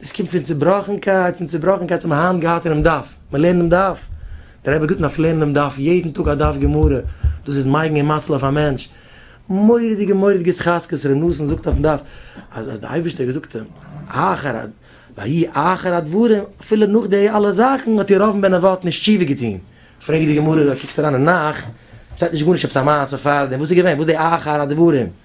דאס קומט פון צובראכנקייט, פון צובראכנקייט האבן מיר היינט געהאט אינעם דף, מען לערנט דעם דף, דער רבי גיבט אויף לערנען דעם דף, יעדן טאג א דף גמרא, דאס איז מייגן און מאציל אויף א מענטש, מורא'דיגע מורא'דיגע התחזקות, ר' נתן זאגט אויפן דף אז אז דער אייבערשטער האט געזאגט אים, אחר ה, ויהי אחר הדברים, אפילו נאך די אלע זאכן האט ירבעם בן נבט נישט תשובה געטון, פרעגט די גמרא, קוקסט אריין אין נך, שטייט נישט גארנישט עפעס א מעשה פארדעם, וואס איז געווען, וואס איז די אחר הדברים?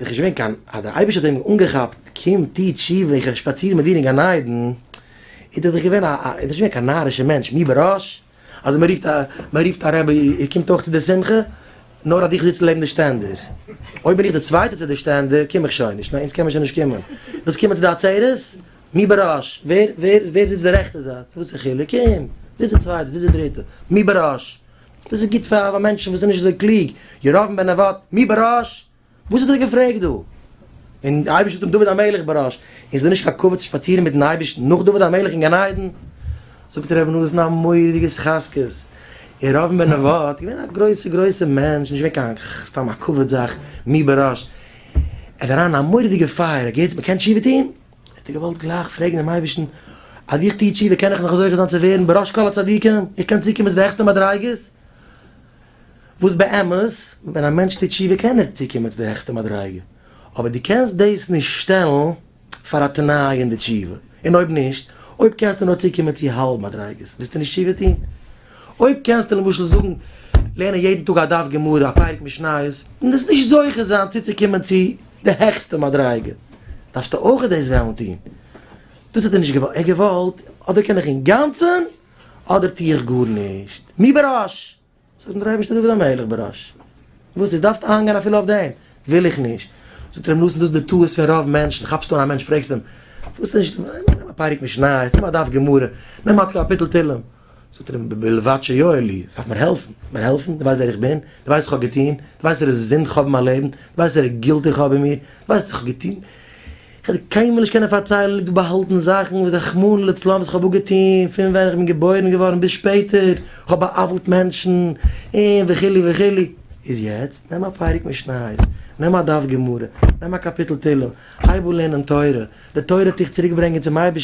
איז נישט געווען קיין אז דער אייבערשטער האט אים אנגעכאפט קום טו תשובה איך וועל שפאצירן מיט דיר אין גן עדן, איז דאך דאך געווען א א איז נישט געווען קיין נארישע מענטש מי בראש אז מען רופט א מען רופט א רבי איר קומט אויך צו די שמחה נאר אז איך זיץ לעבן די שטענדער אויב בין איך די צווייטע צו די שטענדער קום איך שוין נישט ניין אונז קען מען שוין נישט קומען ווילסט קומען צו די עצרת מי בראש ווער ווער ווער זיצט די רעכטע זייט וואס א חילוק קום זיץ די צווייטע זיץ די דריטע מי בראש דאס איז גוט פאר מענטשן וואס זענען נישט אזוי קלוג, ירבעם בן נבט, מי בראש? וואס האט ער געפרעגט דא? און דער אייבערשטער האט אים דוד המלך בראש, איז דאס נישט א כבוד צו שפאצירן מיטן אייבערשטן נאך דוד המלך אין גן עדן? זאגט ר' נתן א מורא'דיגע התחזקות, ירבעם בן נבט איז געווען א גרויסע גרויסע מענטש, נישט געווען קיין סתם א כבוד זאך, מי בראש, ער האט אריין אין א מורא'דיגע פייער, ער האט געהערט אז מען קען תשובה טון, האט ער געוואלט גלייך פרעגן דעם אייבערשטן, אויב איך טו תשובה קען איך נאך זוכה זיין צו ווערן בראש כל הצדיקים, איך קען צוקומען צו די העכסטע מדריגות, וואס באמת ווען א מענטש טוט תשובה קען ער צוקומען צו די העכסטע מדריגה, אבער דו קענסט דאס נישט שטעלן פאר א תנאי אין די תשובה, און אויב נישט, אויב קענסטו נאר צוקומען צו האלב מדריגות, וועסטו נישט תשובה טון. אויב קענסטו למשל זאגן לערנען יעדן טאג א דף גמרא, א פרק משניות, און דאס נישט זוכה זיין צוצוקומען צו די העכסטע מדריגה, דארפסטו אויך דאס וועלן טון. דאס האט ער נישט געוואלט, ער האט געוואלט, אדער קען איך אינגאנצן, אדער טו איך גארנישט. מי בראש? זאגט אים דער אייבערשטער, דוד המלך בראש. וואס איז, דארפסטו האנגען אפילו אויף דעם? וויל איך נישט. זאגט ר' נתן, דאס איז די טעות פון רוב מענטשן, כאפסטו אן א מענטש פרעגסטו אים, ווילסטו נישט, נעם א פרק משניות, נעם א דף גמרא, נעם א קאפיטל תהילים. זאגט ער אים בלבד שיועל לי, דארף מיר העלפן, דארף מיר העלפן, דו ווייסט ווער איך בין, דו ווייסט וואס איך האב געטון, דו ווייסט ווער איז זינד איך האב אין מיין לעבן, דו ווייסט ווער איז גילט איך האב אין מיר, דו ווייסט וואס איך האב געטון, איך וועל דיר קיינמאל נישט קענען פארציילן, דא באהאלטן זאכן וואס רחמנא לצלן וואס איך האב אפגעטון פון ווען איך בין געבוירן געווארן ביז שפעטער, איך האב בא'עוול'ט מענטשן, און וכו' וכו', איז יעצט נעם א פרק משניות, נעם א דף גמרא, נעם א קאפיטל תהלים, הייב אן לערנען תורה, די תורה האט דיך צוריק ברענגען צום אייבערשטן,